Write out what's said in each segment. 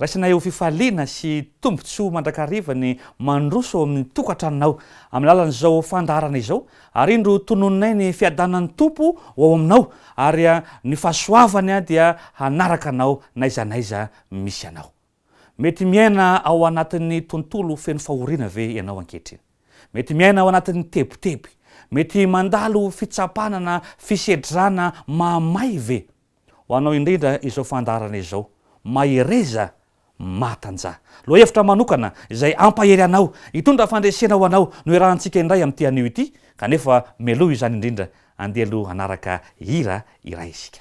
Raisina eo fifaliana sy tombontsoa mandrakariva ny mandroso ao amin'ny tokantranonao amin'ny alalan'izao fandaharana izao ary indro tononinay ny fiadanan'ny Tompo ho ao aminao ary ny fahasoavany dia hanaraka anao n'aiza n'aiza misy anao. Mety miaina ao anatin'ny tontolo feno fahoriana ve ianao ankehitriny? Mety miaina ao anatin'ny tebiteby? Mety mandalo fitsapana na fisedrana mahamay ve? Ho anao indrindra izao fandaharana izao, Mahereza mahatanjaha. Lohahevitra manokana izay hampahery anao, hitondra fandresena ho anao no iarahantsika indray amin'ity anio ity, kanefa mialoha izany indrindra, andeha aloha hanaraka hira iray isika.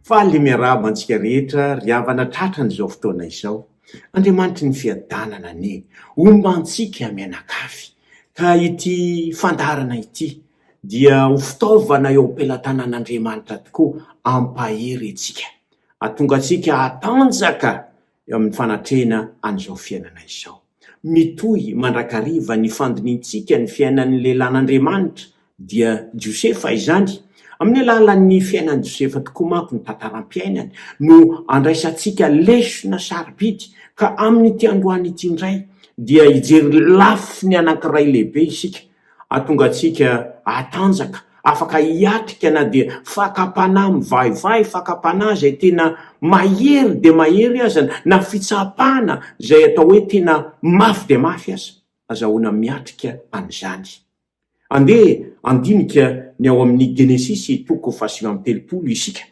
Faly miarahaba antsika rehetra ry havana tratran'izao fotoana izao. Andriamanitry ny fiadanana anie homba antsika mianakavy ka ity fandaharana ity dia ho fitaovana eo am-pelatanan'Andriamanitra tokoa hampahery antsika hahatonga antsika hatanjaka eo amin'ny fanatrehana an'izao fiainana izao. Mitohy mandrakariva ny fandinihintsika ny fiainan'ny lehilahin'Andriamanitra, dia Josefa izany. Amin'ny alalan'ny fiainan'i Josefa tokoa manko ny tantaram-piainany no andraisantsika lesona sarobidy, ka amin'ity androany ity indray dia hijery lafiny anankiray lehibe isika, Hahatonga antsika hatanjaka, afaka hiatrika na dia fakam-panahy mivahivahy, fakam-panahy izay tena mahery dia mahery aza, na fitsapana izay atao hoe tena mafy dia mafy aza. Azahoana miatrika an'izany. Andeha handinika ny ao amin'ny Genesisy toko fahasivy amby telopolo isika,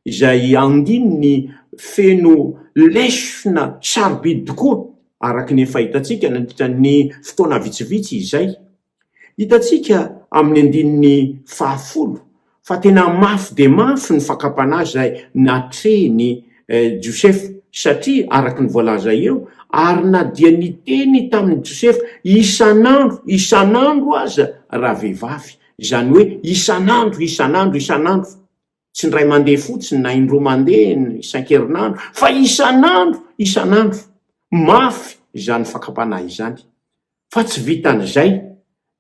izay andininy feno lesona sarobidy tokoa araka ny efa hitantsika nandritra ny fotoana vitsivitsy izay. Hitantsika amin'ny andininy fahafolo fa tena mafy dia mafy ny fakam-panahy izay natrehin'i Josefa, satria araka ny voalaza eo, ary na dia niteny tamin'i Josefa isan'andro isan'andro aza ravehivavy, izany hoe isan'andro isan'andro isan'andro. Tsy indray mandeha fotsiny na indroa mandeha isan-kerinandro fa isan'andro, isan'andro. Mafy izany fakam-panahy izany. Fa tsy vitan'izay.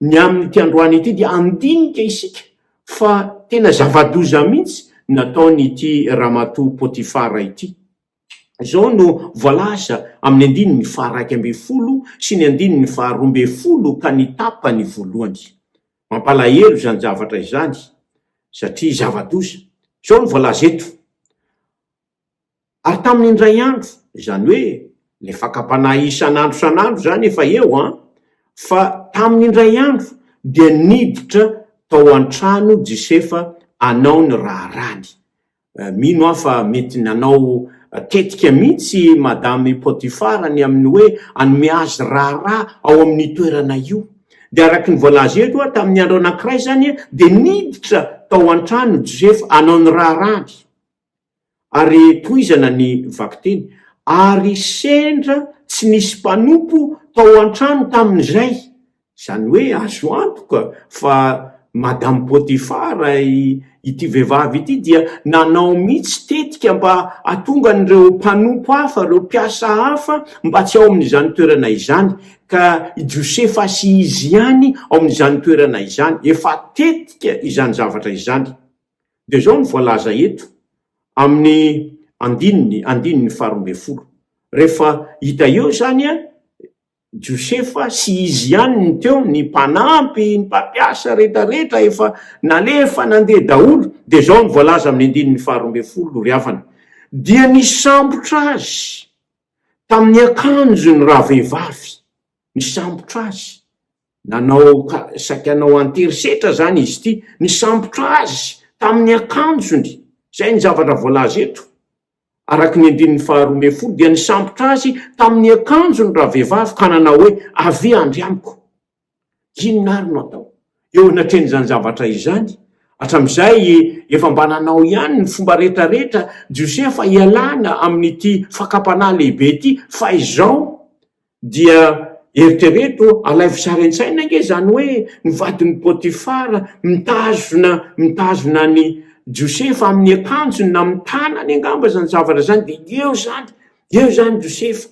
Ny amin'ity androany ity dia handinika isika fa tena zava-doza mihitsy ny nataon'ity ramatoa Potifara ity. Izao no voalaza amin'ny andininy faha-iraika ambin'ny folo sy ny andininy faha-roa ambin'ny folo ka ny tapany voalohany. Mampalahelo izany zavatra izany satria zava-doza. Izao no voalaza eto, Ary tamin'ny indray andro, izany hoe ilay fakam-panahy isan'andro isan'andro izany efa eo an, fa tamin'ny indray andro dia niditra tao an-trano Jisefa hanao ny raharahany. Mino aho fa mety nanao tetika mihitsy Madame Potifara ny amin'ny hoe hanome azy raharaha ao amin'io toerana io. Dia araka ny voalaza eto hoe tamin'ny andro anankiray izany dia niditra tao an-trano Josefa hanao ny raharahany. Ary tohizana ny vakiteny, Ary sendra tsy nisy mpanompo tao an-trano tamin'izay, Izany hoe azo antoka fa Madame Potifar ity vehivavy ity dia nanao mihitsy tetika mba hatonga an'ireo mpanompo hafa, ireo mpiasa hafa mba tsy ao amin'izany toerana izany, ka i Josefa sy izy ihany ao amin'izany toerana izany. Efa tetika izany zavatra izany. Dia izao no voalaza eto amin'ny andininy, andininy faharoa ambin'ny folo. Rehefa hita eo izany, Josefa sy izy ihany no teo, ny mpanampy, ny mpampiasa, rehetra rehetra efa nalefa nandeha daholo, dia izao no voalaza amin'ny andininy faharoa ambin'ny folo, ry havana, dia nisambotra azy tamin'ny akanjo ny ravehivavy, nisambotra azy, nanao saiky hanao an-terisetra izany izy ity, nisambotra azy tamin'ny akanjony, izay ny zavatra voalaza eto. Araka ny andininy faharoa ambin'ny folo dia nisambotra azy tamin'ny akanjony ravehivavy ka nanao hoe, Avia andry amiko. Inona àry no atao eo anatrehan'izany zavatra izany? Hatramin'izay, efa mba nanao ihany ny fomba rehetrarehetra Josefa hialana amin'ity fakam-panahy lehibe ity, fa izao, Dia eritrereto, alaivo sary an-tsaina ange izany hoe ny vadin'i Potifara mitazona mitazona an'i Josefa amin'ny akanjony na amin'ny tanany angamba izany zavatra izany, dia eo izany, eo izany Josefa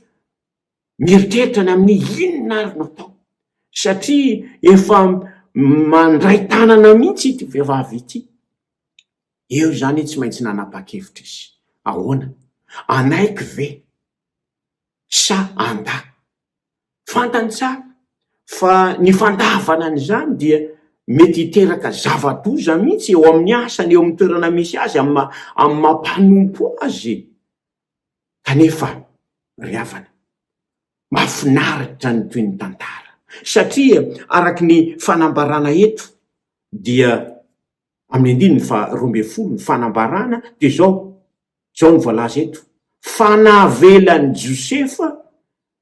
mieritreritra ny amin'ny hoe inona ary no atao? Satria efa mandray tanana mihitsy ity vehivavy ity. Eo izany izy tsy maintsy nanapa-kevitra izy. Ahoana? Hanaiky ve? sa andà. Fantany tsara fa ny fandàvana an'izany dia mety hiteraka zava-doza mihitsy eo amin'ny asany, eo amin'ny toerana misy azy, amin'ny maha-amin'ny maha-mpanompo azy. Kanefa ry havana, mahafinaritra ny toy ny tantara, satria araka ny fanambarana eto dia. amin'ny andininy faha roa ambin'ny folo ny fanambarana dia izao, izao no voalaza eto, fa navelan'i Josefa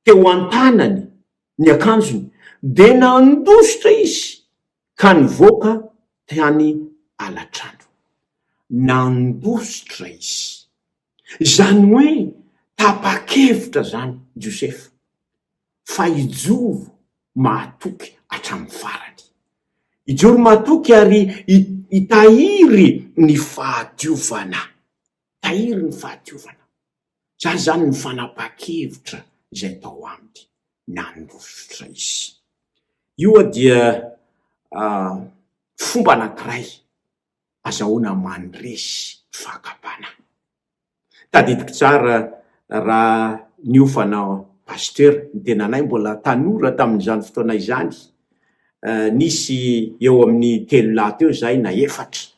teo an-tanany ny akanjony, dia nandositra izy ka nivoaka tany alatrano. Nandositra izy. Izany hoe tapa-kevitra izany Josefa fa hijoro mahatoky hatramin'ny farany. Hijoro mahatoky ary hitahiry ny fahadiovana. Hitahiry ny fahadiovana. Izany izany ny fanapahan-kevitra izay tao aminy. Nandositra izy. Io dia fomba anankiray. Azahoana mandresy fakam-panahy. Tadidiko tsara raha niofana Pasteur ny tenanay mbola tanora tamin'izany fotoana izany, nisy eo amin'ny telo lahy teo izahay na efatra.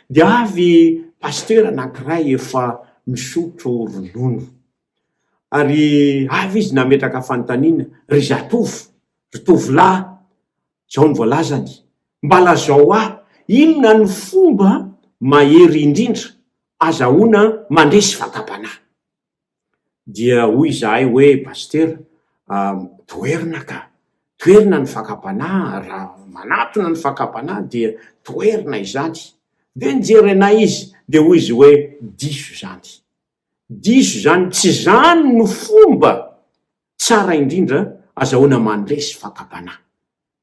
Dia avy Pasteur anankiray efa misotro ronono. Ary avy izy nametraka fanontaniana, ry zatovo, ry tovolahy, Izao no voalazany, Mba lazao ahy, inona no fomba mahery indrindra azahoana mandresy vatam-panahy? Dia hoy izahay hoe, Pasitera a, toherina ka! Toherina ny fakam-panahy, raha manatona ny fakam-panahy dia toherina izany. Dia nijery anay izy, dia hoy izy hoe, Diso izany. Diso izany, tsy izany no fomba Tsara indrindra azahoana mandresy fakam-panahy.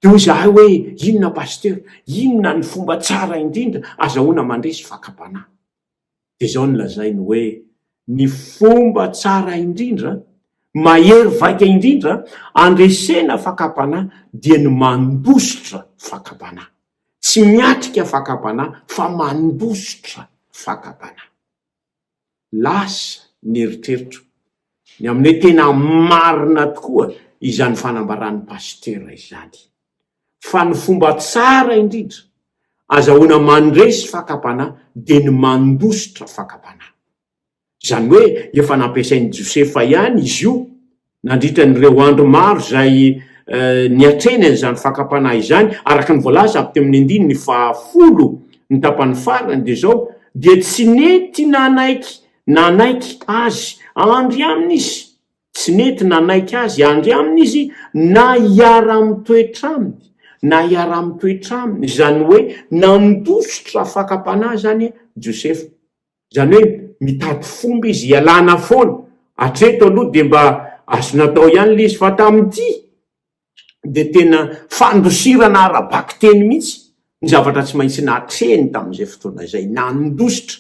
Dia hoy izahay hoe, Inona Pasitera? Inona ny fomba tsara indrindra azahoana mandresy fakam-panahy? Dia izao no lazainy hoe, Ny fomba tsara indrindra, mahery vaika indrindra andresena fakam-panahy dia ny mandositra fakam-panahy. Tsy miatrika fakam-panahy fa mandositra fakam-panahy. Lasa ny eritreritro, ny amin'ny hoe tena marina tokoa izany fanambaran'ny Pasitera izany. Fa ny fomba tsara indrindra azahoana mandresy fakam-panahy dia ny mandositra fakam-panahy. Izany hoe efa nampiasain'i Josefa ihany izy io Nandritra an'ireo andro maro izay niatrehany an'izany fakam-panahy izany, araka ny voalaza avy teo amin'ny andininy fahafolo, ny tapany farany, dia izao, Dia tsy nety nanaiky nanaiky Azy handry aminy izy, tsy nety nanaiky Azy handry aminy izy na hiara-mitoetra Aminy, na hiara-mitoetra Aminy, izany hoe nandositra fakam-panahy izany Josefa. Izany hoe mitady fomba izy hialana foana. Hatreto aloha dia mba azo natao ihany ilay izy fa tamin'ity dia tena fandosirana ara-bakiteny mihitsy ny zavatra tsy maintsy natrehiny tamin'izay fotoana izay. Nandositra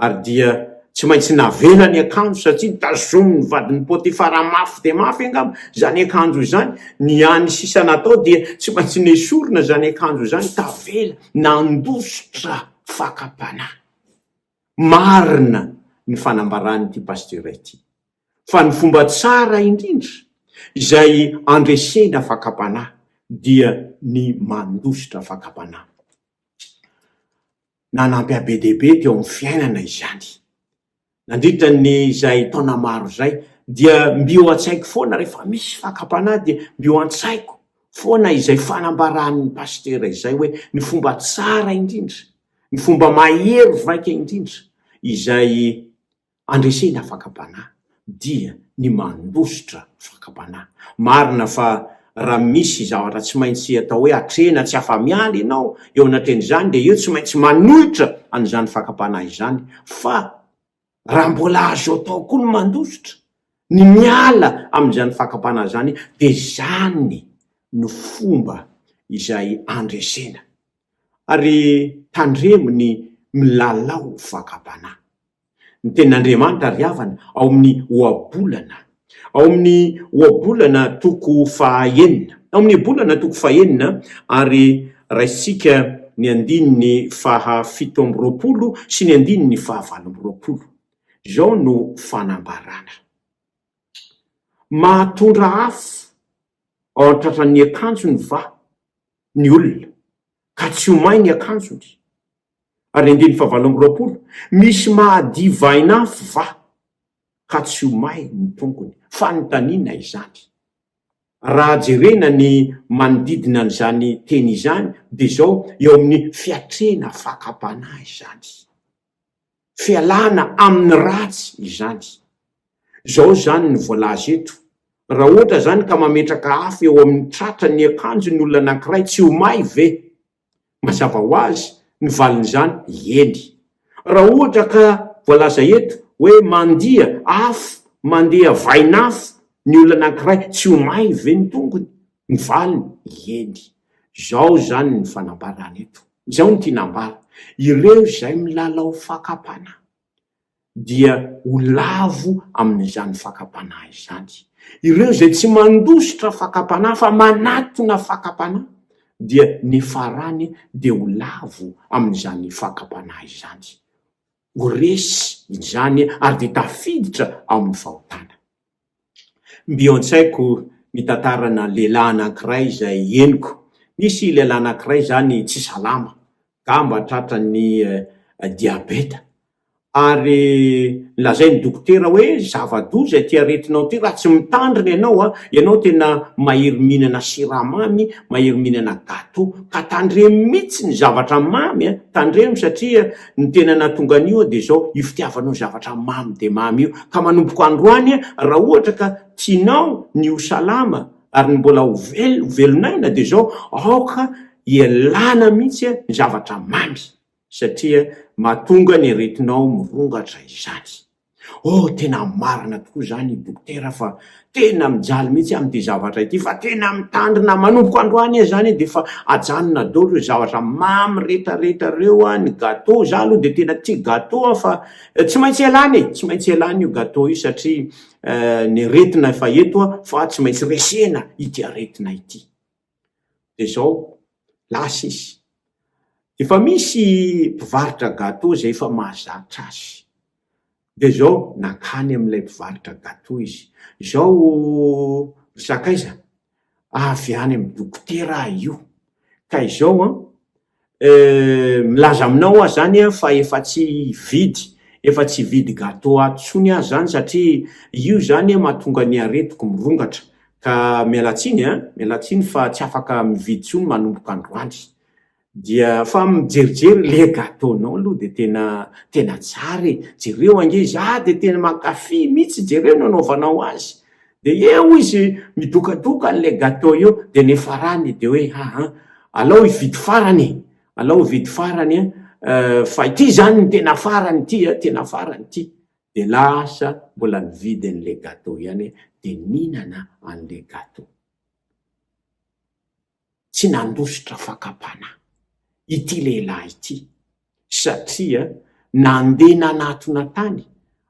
ary dia tsy maintsy navela ny akanjo satria tazomin'ny vadin'i Potifara mafy dia mafy angamba izany akanjo izany. Ny hany sisa natao dia tsy maintsy nesorina izany akanjo izany. Tavela, nandositra, fakam-panahy. Marina ny fanambaran'ity Pasitera ity, fa ny fomba tsara indrindra izay andresena fakam-panahy dia ny mandositra fakam-panahy. Nanampy be dia be teo amin'ny fiainana izany. Nandritra ny izay taona maro izay dia mby eo an-tsaiko foana rehefa misy fakam-panahy dia mby eo an-tsaiko foana izay fanambaran'ny pasitera izay hoe ny fomba tsara indrindra, ny fomba mahery vaika indrindra izay andresena fakam-panahy dia ny mandositra fakam-panahy. Marina fa raha misy zavatra tsy maintsy atao hoe atrehina tsy afa-miala ianao eo anatin'izany, dia io tsy maintsy manohitra an'izany fakam-panahy izany. Fa raha mbola azo atao koa ny mandositra, ny miala amin'izany fakam-panahy izany, dia izany no fomba izay andresena. Ary tandremo ny milalao fakam-panahy. Ny tenin'Andriamanitra ry havana ao amin'ny Ohabolana, ao amin'ny Ohabolana toko fahaenina, ao amin'ny Ohabolana toko fahenina ary raisintsika ny andininy fahafito amby roapolo sy ny andininy fahavalo amby roapolo. Izao no fanambarana. Mahatondra afo ao an-tratran'ny akanjony va ny olona, ka tsy ho may ny akanjony? ary andininy fahavalo amby roapolo, Misy mahadivain'afo va, ka tsy ho may ny tongony? Fanontaniana izany. Raha jerena ny manodidina an'izany teny izany, dia izao, eo amin'ny fiatrehana fakam-panahy izany. Fialana amin'ny ratsy izany. Izao izany no voalaza eto, Raha ohatra izany ka mametraka afo eo amin'ny tratran'ny akanjon'ny olona anankiray, tsy ho may ve? Mazava ho azy ny valin'izany, eny. Raha ohatra ka voalaza eto hoe mandia afo, mandeha vain'afo ny olona anankiray, tsy ho may ve ny tongony? Ny valiny, eny. Izao izany ny fanambarana eto. Izao no tiana ambara, ireo izay milalao fakam-panahy. dia ho lavo amin'izany fakam-panahy izany. Ireo izay tsy mandositra fakam-panahy fa manatona fakam-panahy dia ny farany dia ho lavo amin'izany fakam-panahy izany. Ho resy izany ary dia tafiditra ao amin'ny fahotana. Mby an-tsaiko ny tantarana lehilahy anankiray izay henoko. Nisy lehilahy anankiray izany tsy salama, gamba tratran'ny diabeta. Ary lazain'ny dokotera hoe zava-doza ity aretinao ity raha tsy mitandrina ianao an! Ianao tena mahery mihinana siramamy, mahery mihinana gateau, ka tandremo mihitsy ny zavatra mamy an! Tandremo satria. Ny tena nahatonga an'io dia izao, io fitiavanao zavatra mamy dia mamy io. Ka manomboka androany, raha ohatra ka tianao ny ho salama ary ny mbola ho vel, ho velon'aina dia izao, aoka ialana mihitsy ny zavatra mamy, satria mahatonga ny aretinao mirongatra izany. Oh tena marina tokoa izany dokotera fa tena mijaly mihitsy aho amin'ity zavatra ity fa tena mitandrina manomboka androany aho zany dia efa ajanona daolo ireo zavatra mamy retraretra ireo an, ny gateau za aloha dia tena tia gateau aho fa tsy maintsy ialana e, tsy maintsy ialana io gateau io satria ny aretina efa eto an fa tsy maintsy resena ity aretina ity. Dia izao, lasa izy. Efa misy mpivarotra gateau izay efa mahazatra azy. Dia izao, nankany amin'ilay mpivarotra gateau izy. Izao ry sakaiza, avy any amin'ny dokotera aho io, ka izao an, Euh milaza aminao aho zany an fa efa tsy hividy efa tsy hividy gateau ato tsony aho zany satria io zany an mahatonga ny aretiko mirongatra ka miala tsiny an miala tsiny fa tsy afaka mividy tsony manomboka androany dia fa mijerijery le gateau nao aloha de tena tena tsara e jereo ange izy ah de tena mankafy mitsy jereo ny anaovanao azy de eo izy midokadoka an'le gateau eo de nefarany de hoe haa alao hividy farany e, alao hividy farany an, fa ity izany no tena farany ity an, tena farany ity, de lasa mbola nividy an'le gateau ihany de nihinana an'le gateau. tsy nandositra fakam-panahy ity lehilahy ity satria nandeha nanatona tany,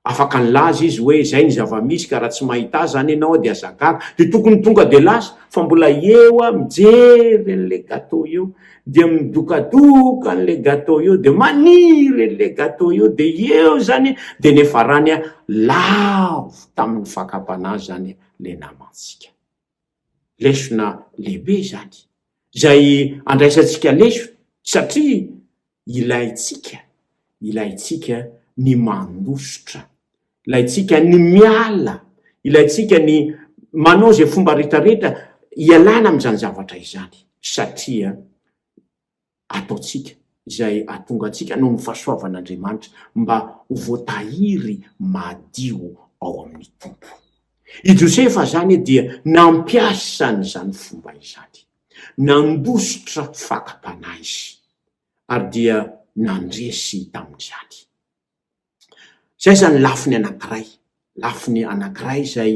afaka nilaza izy hoe izay ny zava-misy ka raha tsy mahita azy zany ianao dia aza gaga, dia tokony tonga dia lasa fa mbola eo aho mijery an'ilay gateau eo dia midokadoka an'ilay gateau eo dia maniry an'ilay gateau eo dia eo zany dia nefarany aho lavo tamin'ny fakam-panahy zany ilay namantsika. lesona lehibe izany, izay andraisantsika lesona satria ilaintsika, ilaintsika ny mandositra, ilaintsika ny miala, ilaintsika ny manao izay fomba rehetra rehetra hialana amin'izany zavatra izany satria. ataontsika, izay hahatonga antsika noho ny fahasoavan'Andriamanitra mba ho voatahiry madio ao amin'ny Tompo. I Josefa izany dia nampiasa an'izany fomba izany. Nandositra fakam-panahy izy, ary dia nandresy tamin'izany. Izay izany ny lafiny anankiray, lafiny anankiray izay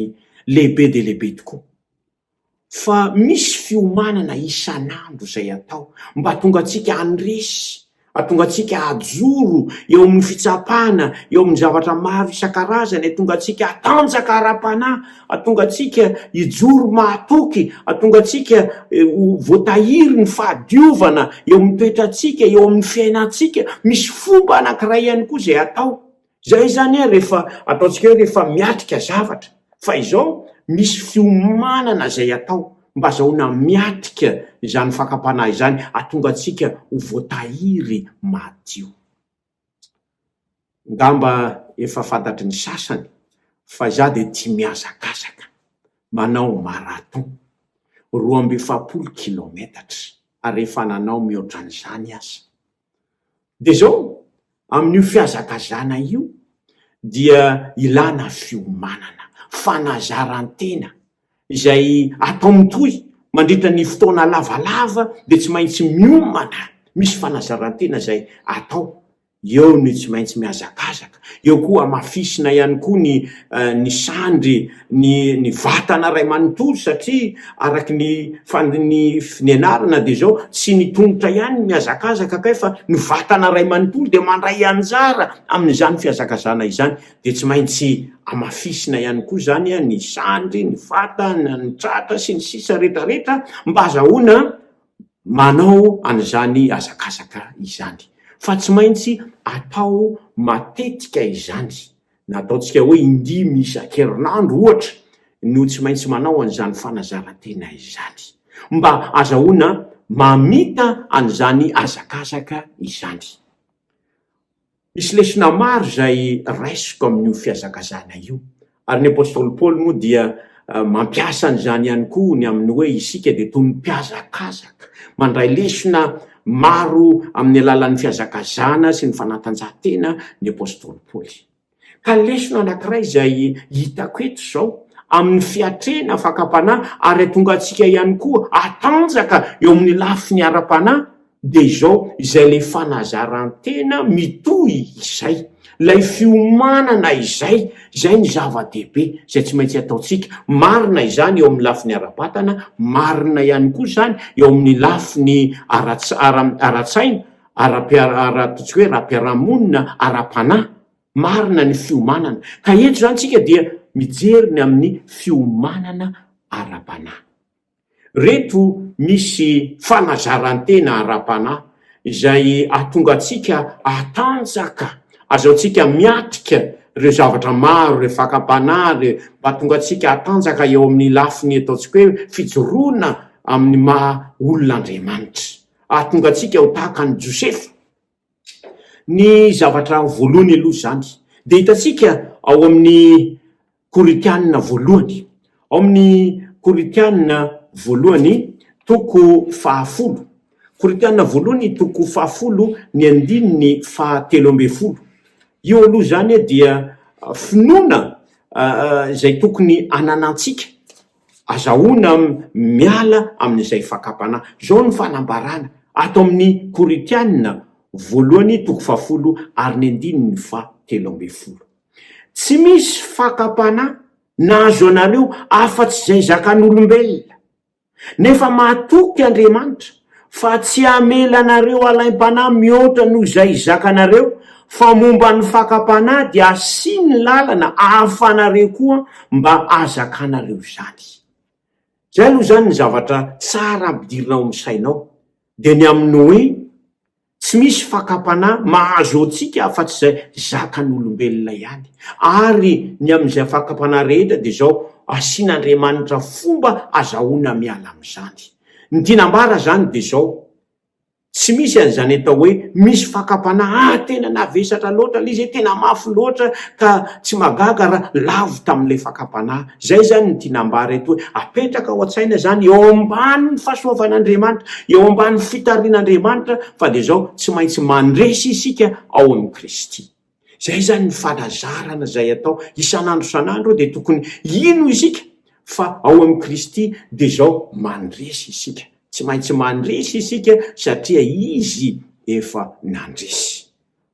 lehibe dia lehibe tokoa. Fa misy fiomanana isan'andro izay atao mba hahatonga antsika handresy, hahatonga antsika hajoro eo amin'ny fitsapana, eo amin'ny zavatra maro isan-karazany, hahatonga antsika hatanjaka ara-panahy. Hahatonga antsika hijoro mahatoky, hahatonga antsika ho voatahiry ny fahadiovana eo amin'ny toetrantsika, eo amin'ny fiainantsika. Misy fomba anankiray ihany koa izay atao. Izay izany rehefa ataontsika hoe rehefa miatrika zavatra. Fa izao, misy fiomanana izay atao mba azahoana miatrika izany fakam-panahy izany, hahatonga antsika ho voatahiry madio. Ngamba efa fantatry ny sasany fa izaho dia tia mihazakazaka, manao marathon, roa amby efapolo kilaometatra, ary efa nanao mihoatra an'izany aza. Dia izao, amin'io fihazakazana io dia ilana fiomanana, fanazaran-tena. izay atao mitohy mandritra ny fotoana lavalava dia tsy maintsy miomana, misy fanazarantena izay atao, eo ny tsy maintsy mihazakazaka, eo koa hamafisina ihany koa ny ny sandry ny ny vatana ray manontolo satria araka ny fandin ny fnianarana dia izao tsy ny tongotra ihany no mihazakazaka kay fa ny vatana ray manontolo dia mandray anjara amin'izany fihazakazana izany dia tsy maintsy amafisina ihany koa izany ny sandry, ny fatana, ny tratra sy ny sisa rehetra rehetra mba hazahoana manao an'izany hazakazaka izany. Fa tsy maintsy atao matetika izany, na ataontsika hoe indimy isan-kerinandro ohatra no tsy maintsy manao an'izany fanazaran-tena izany, mba hazahoana mamita an'izany hazakazaka izany. Misy lesona maro izay raisiko amin'io fihazakazahana io, ary ny apostoly Paoly moa dia mampiasa an'izany ihany koa ny amin'ny hoe isika dia toy ny mpihazakazaka, mandray lesona maro amin'ny alalan'ny fihazakazahana sy ny fanatanjahantena ny apostoly Paoly. Ka lesona anankiray izay hitako eto izao, amin'ny fiatrehina fakam-panahy ary hahatonga antsika ihany koa hatanjaka eo amin'ny lafiny ara-panahy, dia izao, izay ilay fanazaran-tena mitohy izay, ilay fiomanana izay, izay ny zava-dehibe, izay tsy maintsy ataontsika. Marina izany eo amin'ny lafiny ara-batana, marina ihany koa izany eo amin'ny lafiny ara-tsaina. ara-piaraha ara-ataontsika hoe ara-piarahamonina, ara-panahy, marina ny fiomanana. Ka eto izany isika dia mijery ny amin'ny fiomanana ara-panahy. Ireto misy fanazaran-tena ara-panahy izay hahatonga antsika hatanjaka, ahazoantsika miatrika ireo zavatra maro, ireo fakam-panahy, ireo mba hahatonga antsika hatanjaka eo amin'ny lafiny ataontsika hoe fijoroana amin'ny maha olona Andriamanitra. Ahatonga antsika ho tahaka an'i Josefa ny zavatra voalohany aloha izany. Dia hitantsika ao amin'ny Korintianina voalohany, ao amin'ny Korintianina voalohany toko fahafolo, Korintianina voalohany toko fahafolo ny andininy fahatelo ambin'ny folo. Io aloha izany dia finoana izay tokony hananantsika. Azahoana miala amin'izay fakam-panahy. Izao no fanambarana ato amin'ny Korintiana voalohany toko fahafolo ary ny andininy faha telo ambin'ny folo. Tsy misy fakam-panahy nahazo anareo afa-tsy izay zakan'olombelona. Nefa mahatoky Andriamanitra Fa tsy hamela anareo halaim-panahy mihoatra noho izay hizakanareo, fa momba ny fakam-panahy dia hasiany lalana ahafanareo koa mba hazakanareo izany. Izay aloha izany ny zavatra tsara ampidirina ao amin'ny sainao, dia ny amin'ny hoe, Tsy misy fakam-panahy mahazo antsika afa-tsy izay zakan'olombelona ihany. Ary ny amin'izay fakam-panahy rehetra dia izao, asian'Andriamanitra fomba azahoana miala amin'izany. Ny tiana ambara izany dia izao, tsy misy an'izany atao hoe misy fakam-panahy ah tena navesatra loatra ilay izy eh, tena mafy loatra ka tsy mahagaga raha lavo tamin'ilay fakam-panahy. Izay izany no tiana ambara eto hoe apetraka ao an-tsaina izany eo ambanin'ny fahasoavan'Andriamanitra, eo ambanin'ny fitarian'Andriamanitra fa dia izao tsy maintsy mandresy isika ao amin'i Kristy. Izay izany ny fanazarana izay atao isan'andro isan'andro dia tokony hino isika fa ao amin'i Kristy dia izao mandresy isika. Tsy maintsy mandresy isika satria Izy efa nandresy.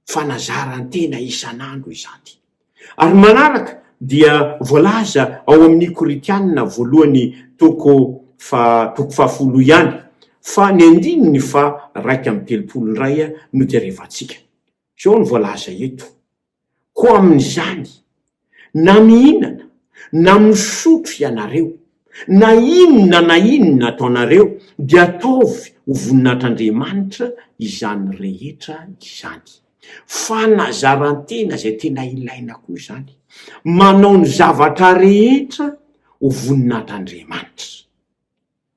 fanazaran-tena isan'andro izany. Ary manaraka dia voalaza ao amin'ny Korintiana voalohany toko faha toko fahafolo ihany fa ny andininy faha raika amby telopolo indray no jerevantsika. Izao no voalaza eto, Koa amin'izany, Na mihinana, na misotro ianareo, na inona na inona ataonareo, dia ataovy ho voninahitr'Andriamanitra izany rehetra izany. Fanazaran-tena izay tena ilaina koa izany. Manao ny zavatra rehetra ho voninahitr'Andriamanitra.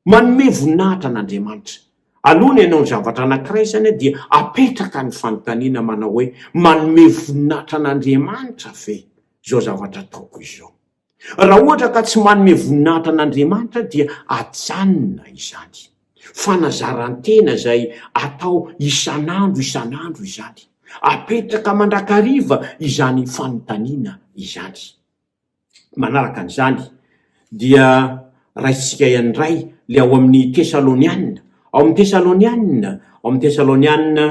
Manome voninahitra an' Andriamanitra. Aloha ny hanao ny zavatra anankiray izany dia apetraka ny fanontaniana manao hoe, Manome voninahitra an' Andriamanitra ve izao zavatra ataoko izao? Raha ohatra ka tsy manome voninahitra an' Andriamanitra dia ajanona izany. Fanazaran-tena izay atao isan' andro isan' andro izany. Apetraka mandrakariva izany fanontaniana izany. Manaraka an'izany, dia raisintsika ihany indray ilay ao amin'ny Tesalonianina, ao amin'ny Tesalonianina, ao amin'ny Tesalonianina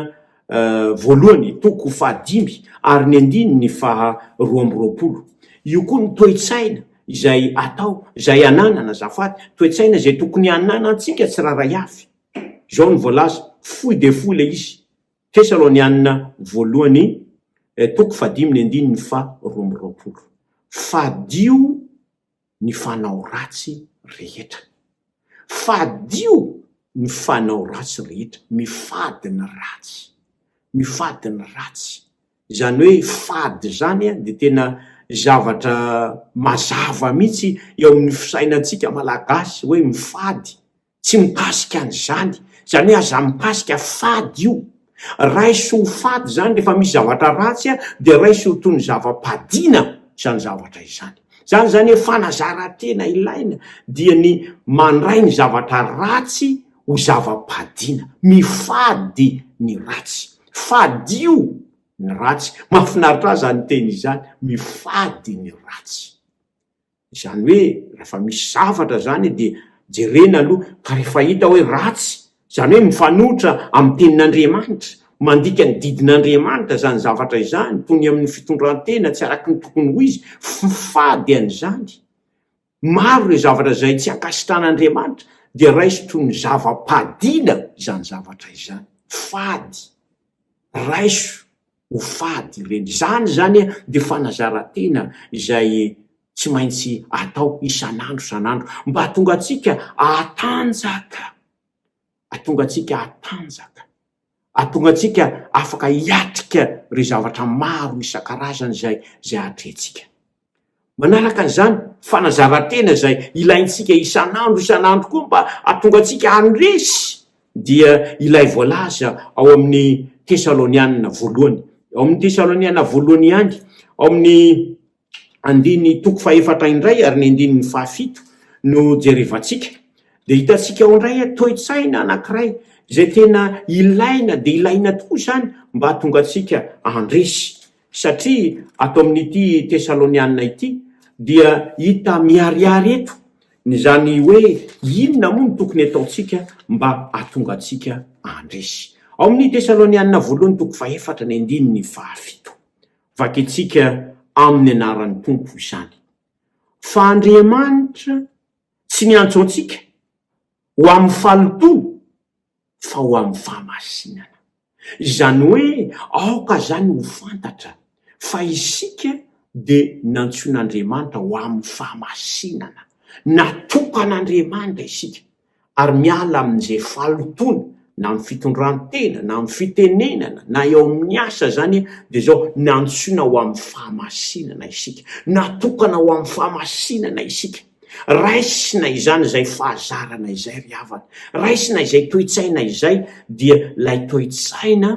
Voalohany, toko fahadimy ary ny andininy faha roa amby roapolo. Io koa ny toe-tsaina izay atao, izay ananana, azafady, toe-tsaina izay tokony hananantsika tsirairay avy. Izao no voalaza, Fohy dia fohy ilay izy, Tesalonianina Voalohany toko fahadimy ny andininy faha roa amby roapolo. Fadio ny fanao ratsy rehetra. Fadio ny fanao ratsy rehetra. Mifady ny ratsy. Mifady ny ratsy. Izany hoe fady izany dia tena zavatra mazava mihitsy eo amin'ny fisainantsika Malagasy hoe mifady. Tsy mikasika an'izany. Izany hoe aza mikasika fady io. Raiso ho fady izany rehefa misy zavatra ratsy dia raiso ho toy ny zava-padiana izany zavatra izany. Izany izany hoe fanazaran-tena ilaina dia ny mandray ny zavatra ratsy ho zava-padiana. Mifady ny ratsy. Fadio ny ratsy. Mahafinaritra ahy izany teny izany, mifady ny ratsy. Izany hoe rehefa misy zavatra izany dia jerena aloha ka rehefa hita hoe ratsy, izany hoe mifanohitra amin'ny tenin'Andriamanitra, mandika ny didin'Andriamanitra izany zavatra izany, toy ny amin'ny fitondran-tena tsy araka ny tokony ho izy, fifady an'izany. Maro ireo zavatra izay tsy ankasitrahan'Andriamanitra, dia raiso toy ny zava-padiana izany zavatra izany. Fady. Raiso. ho fady ireny. Izany izany dia fanazaran-tena izay tsy maintsy atao isan'andro isan'andro mba hahatonga antsika hatanjaka, hahatonga antsika hatanjaka, hahatonga antsika afaka hiatrika ireo zavatra maro isan-karazany izay atrehintsika. Manaraka izany, fanazaran-tena izay ilaintsika isan'andro isan'andro koa mba hahatonga antsika handresy dia ilay voalaza ao amin'ny Tesalonianina voalohany, ao amin'ny Tesalonianina voalohany ihany, ao amin'ny andininy toko fahefatra indray ary ny andininy fahafito no jerevantsika, dia hitantsika ao indray hoe toe-tsaina anankiray izay tena ilaina dia ilaina tokoa izany mba hahatonga antsika handresy. Satria ato amin'ity Tesaloniana ity dia hita miharihary eto ny izany hoe inona moa no tokony ataontsika mba hahatonga antsika handresy. Ao amin'ny Tesaloniana voalohany toko fahefatra ny andininy fahafito. Vakintsika amin'ny anaran'ny Tompo izany. Fa Andriamanitra tsy niantso antsika ho amin'ny fahalotoana fa ho amin'ny fahamasinana. Izany hoe aoka izany ho fantatra fa isika dia nantsoin'Andriamanitra ho amin'ny fahamasinana, natokan'Andriamanitra isika, ary miala amin'izay fahalotoana na amin'ny fitondran-tena na amin'ny fitenenana na eo amin'ny asa izany dia izao, nantsoina ho amin'ny fahamasinana isika, natokana ho amin'ny fahamasinana isika. Raisina izany izay fahazarana izay ry havana. Raisina izay toe-tsaina izay, dia ilay toe-tsaina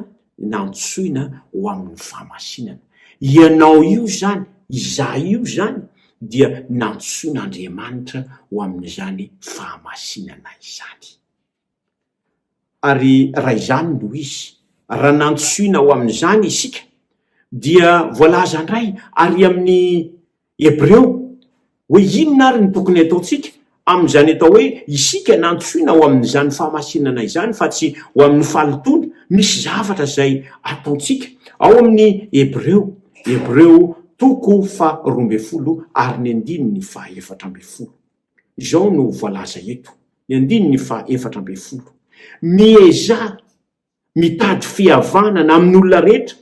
nantsoina ho amin'ny fahamasinana. Ianao io izany, izaho io izany dia nantsoin'Andriamanitra ho amin'izany fahamasinana izany. Ary raha izany no izy, raha nantsoina ho amin'izany isika, dia voalaza indray àry amin'ny Hebreo hoe inona àry no tokony hataontsika amin'izany atao hoe isika nantsoina ho amin'izany fahamasinana izany fa tsy ho amin'ny fahalotoana. Misy zavatra izay ataontsika. Ao amin'ny Hebreo, Hebreo, toko faharoa ambin'ny folo ary ny andininy fahaefatra ambin'ny folo. Izao no voalaza eto, ny andininy faha efatra ambin'ny folo, Miezaha mitady fihavanana amin'ny olona rehetra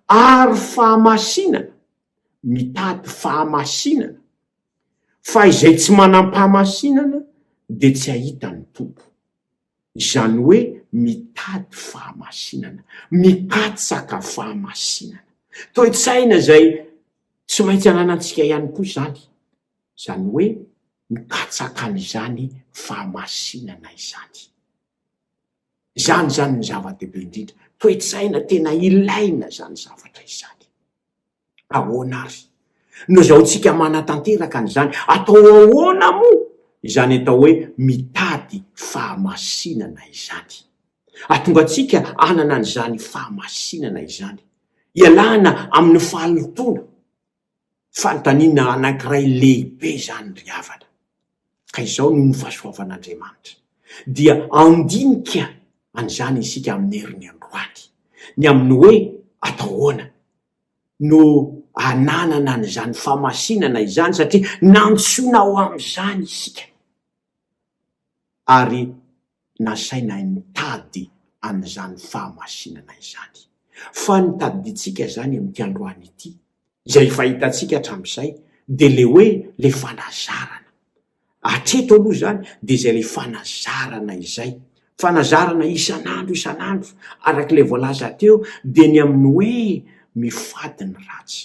ary fahamasinana, mitady fahamasinana, fa izay tsy manam-pahamasinana dia tsy hahita ny Tompo. Izany hoe mitady fahamasinana, mikatsaka fahamasinana. Toe-tsaina izay tsy maintsy ananantsika ihany koa izany. izany hoe mikatsaka an'izany fahamasinana izany. Izany izany no zava-dehibe indrindra. Toe-tsaina tena ilaina izany zavatra izany. Ahoana ary no azahoantsika manatanteraka an'izany? Atao ahoana moa izany atao hoe mitady fahamasinana izany? Hahatonga antsika hanana an'izany fahamasinana izany, ialana amin'ny fahalotoana, Fanontaniana anankiray lehibe izany ry havana, ka izao no nofasoavan'Andriamanitra. Dia handinika an'izany isika amin'ny heriny androany, ny amin'ny hoe atao ahoana no ananana an'izany famasinana izany, satria nantsoina ho amin'izany isika. ary nasainay nitady an'izany fahamasinana izany. Fa ny tadidintsika izany amin'ity androany ity, izay efa hitantsika hatramin'izay, dia ilay hoe ilay fanazarana. Hatreto aloha izany dia izay ilay fanazarana izay. Fanazarana isan'andro isan'andro, araka ilay voalaza teo, dia ny amin'ny hoe mifady ny ratsy.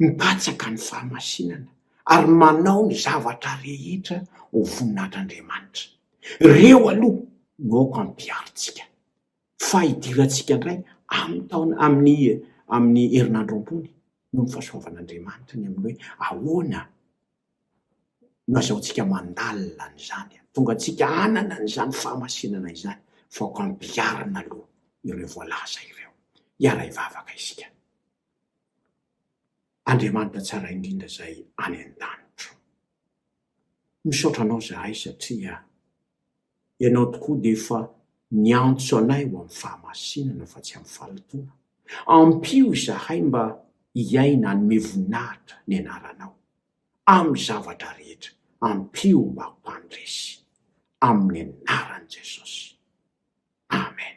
mipatsaka ny fahamasinana ary manao ny zavatra rehetra ho voninahitr'Andriamanitra. Ireo aloha no aoka ampiharintsika, fa hidirantsika indray amin'ny taona, amin'ny amin'ny herinandro ambony, noho ny fahasoavan'Andriamanitra, ny amin'ny hoe ahoana no azahoantsika mandalina an'izany hahatonga antsika hanana an'izany fahamasinana izany, fa aoka ampiharina aloha ireo voalaza ireo. Hiara-hivavaka isika. Andriamanitra tsara indrindra izay any an-danitra. Misaotra anao izahay satria ianao tokoa dia efa niantso anay ho amin'ny fahamasinana fa tsy amin'ny fahalotoana. Ampio izahay mba hiaina hanome voninahitra ny anaranao amin'ny zavatra rehetra. Ampio mba ho mpandresy. Amin'ny anaran'i Jesosy. Amen.